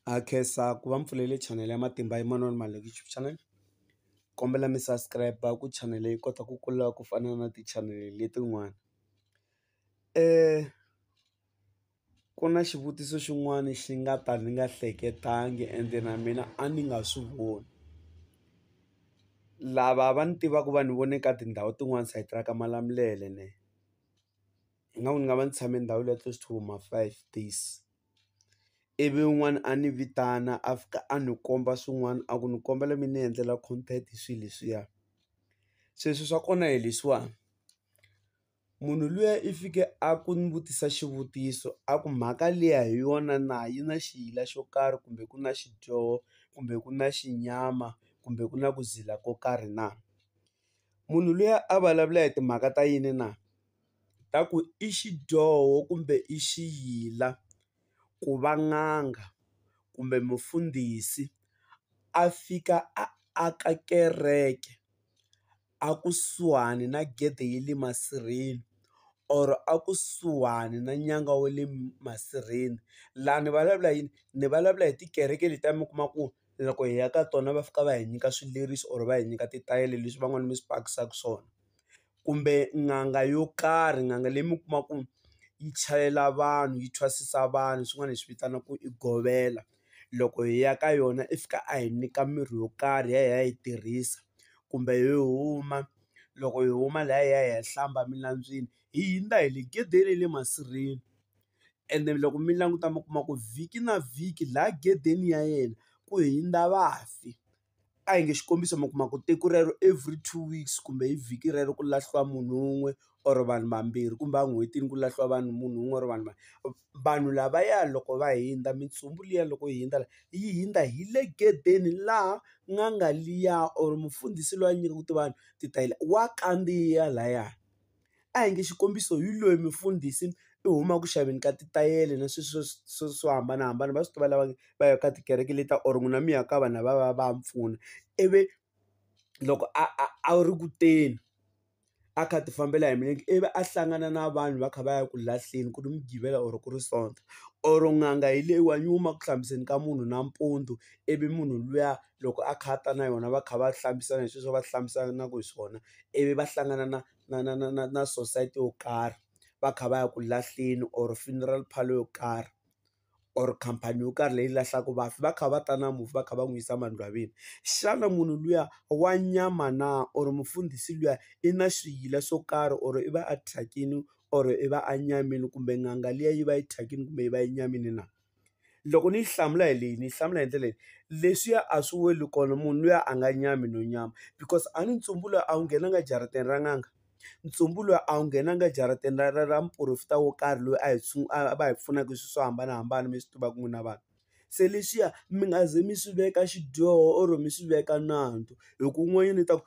Ha khensa ku va mi pfulele chanele ya Matimba ya Manoni Maluleke YouTube channel kombela mi subscribe ku chanele yi kota ku kula ku fana na tichanele letin'wana ku na xivutiso xin'wana xi nga ta ni nga hleketangi ende na mina a ni nga swi voni lava va ni tivaka va ni vone ka tindhawu tin'wani sayiti ra ka Malamulele ne ingaku ni nga va ni tshame ndhawu liya close to ma five days. ivi un'wana a ni vitana a fika a ni komba swin'wana a ku ni kombela mi ni endlela content hi swilo leswiya se swilo swa kona hi leswiwani munhu luya i fike a ku ni vutisa xivutiso a ku mhaka liya hi yona na yi na xiyila xo karhi kumbe ku na xidyoho kumbe ku na xinyama kumbe ku na ku zila ko karhi na munhu luya a vulavula hi timhaka ta yini na. ta ku i xidyoho kumbe i xiyila ku va n'anga kumbe mufundhisi a fika a aka kereke a kusuhani na gede ya le masirheni or a kusuhani na nyanga wa le masirheni laha ni vulavula yini ni vulavula hi tikereke leti a mi kuma ku loko hi ya ka tona va fika va hi nyika swileriso or va hi nyika titayele leswi van'wani mi swi pakisaka swona. kumbe n'anga yo karhi n'anga leyi mi kuma ku yi chayela vanhu yi thwasisa vanhu swin'wana hi swi vitana ku i govela loko hi ya ka yona i fika a hi nyika mirhi yo karhi hi ya hi ya yi tirhisa kumbe hi huma loko hi huma la hi ya hi ya hlamba eminambyeni hi hundza hi le gedeni ya le masirheni ende loko mi languta mi kuma ku vhiki na vhiki laha gedeni ya yena ku hundza vafi. a hi nge xikombiso mi kuma ku tiko rero every two weeks kumbe hi vhiki rero ku lahliwa munhu wun'we or vanhu vambirhi kumbe en'hwetini ku lahliwa vanhu munhu wun'we or vanhu vanhu lavaya loko va hundza mintsumbu liya loko yi hundza la yi hundza hi le gedeni laha n'anga liya or mufundhisi loyi a nyikaku ti vanhu ti ta yi la wa kandziya laya. a hi nge xikombiso hi loyi mufundhisi i huma ku xaveni ka titayele na sweswiya swo swo hambanahambana va swi tiva lava va yaka tikereke leti ta or n'wina mi ya ka vanhu lavaya va ya mpfuna ivi loko a a a wu ri ku teni a kha a ti fambela hi milenge ivi a hlangana na vanhu va kha va ya ku lahleni ku ri mugqivela or ku ri sonto or n'anga hi leyiwani yi huma ku hlambiseni ka munhu nampundzu ivi munhu luya. loko a kha a ta na yona va kha va hlambisana hi sweswi a va hlambisanaka hi swona ivi va hlangana na na na na na na sosayiti yo karhi va kha va ya ku lahleni or funeral parlour yo karhi or khampani yo karhi leyi lahlaka vafi va kha va ta na mufi va kha va n'wi yisa emangcwabeni xana munhu luya wa nyama na or mufundhisi luya i na swiyila swo karhi or i va a thyakile or i va a nyamile kumbe n'anga liya yi va yi thyakile kumbe yi va yi nyamile na. loko ni yi hlamula hi leyi ni yi hlamula hi ndlela leyi leswiya a swi weli kona munhu luya a nga nyami no nyama because a ni ntsumbu luya a wu nghenanga ejarateni ra n'anga ntsumbu luya a wu nghenanga ejaratini ra ra ra muporofeta wo karhi loyi a hi a va hi pfunaka swilo swo hambanahambana mi swi tivaka n'wina vanhu se leswiya mi nga ze mi swi veka xidyoho or mi swi veka nandzu hi ku n'wana i ta ku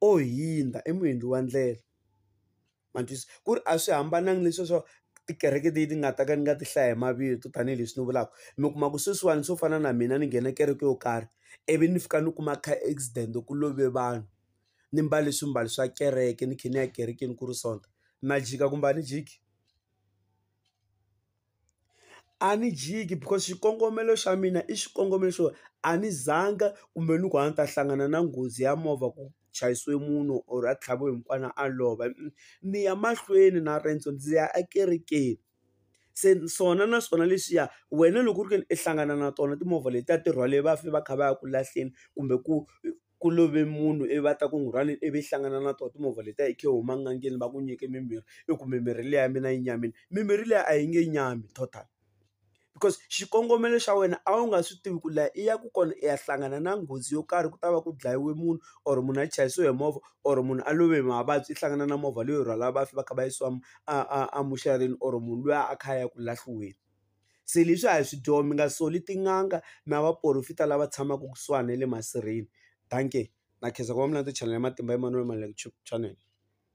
o hundza i muendli wa ndlela ma twisisa ku ri a swi hambananga leswi swo tikereke leti nga ta ka ni nga ti hlaya hi mavito tanihileswi ni vulaka mi kuma ku sweswiwani swo fana na mina ni nghena kereke yo karhi ivi ni fika ni kuma car accident ku love vanhu ni mbale swimbalo swa kereke ni kha ni ya ekerekeni ku ri sonta na jika kumbe a ni jiki. a ni jiki because xikongomelo xa mina i xikongomelo xo a ni zanga kumbe ni ku a ni ta hlangana na nghozi ya movha ku chayiswe munhu or a tlhaviwe hi mukwana a lova ni ya mahlweni na riendzo ndzi ya ekerekeni se swona na swona leswiya wena loko u ri ke ni i hlangana na tona timovha letiya ti rhwale vafi va kha va ya ku lahleni kumbe ku. ku love munhu ivi va ta ku rhwaleni ivi yi hlangana na tona timovha letiya i khe u huma enangeni va ku nyike mimirhi i ku mimirhi liya ya mina yi nyamile mimirhi liya a yi nge nyami total because xikongomelo xa wena a wu nga swi tivi ku laha i ya ku kona i ya hlangana na nghozi yo karhi ku ta va ku dlayiwe munhu or munhu a chayisiwe hi movha or munhu a love hi mavabyi i hlangana na movha leyo rhwala vafi va kha va yisiwa a a a muxareni or munhu luya a kha a ya ku lahliweni. se leswi a hi swi dyoho mi nga soli tin'anga na vaporofita lava tshamaka kusuhani na le masirheni dankie na khensa ku va mi landza channel ya matimba Emmanuel Maluleke channel.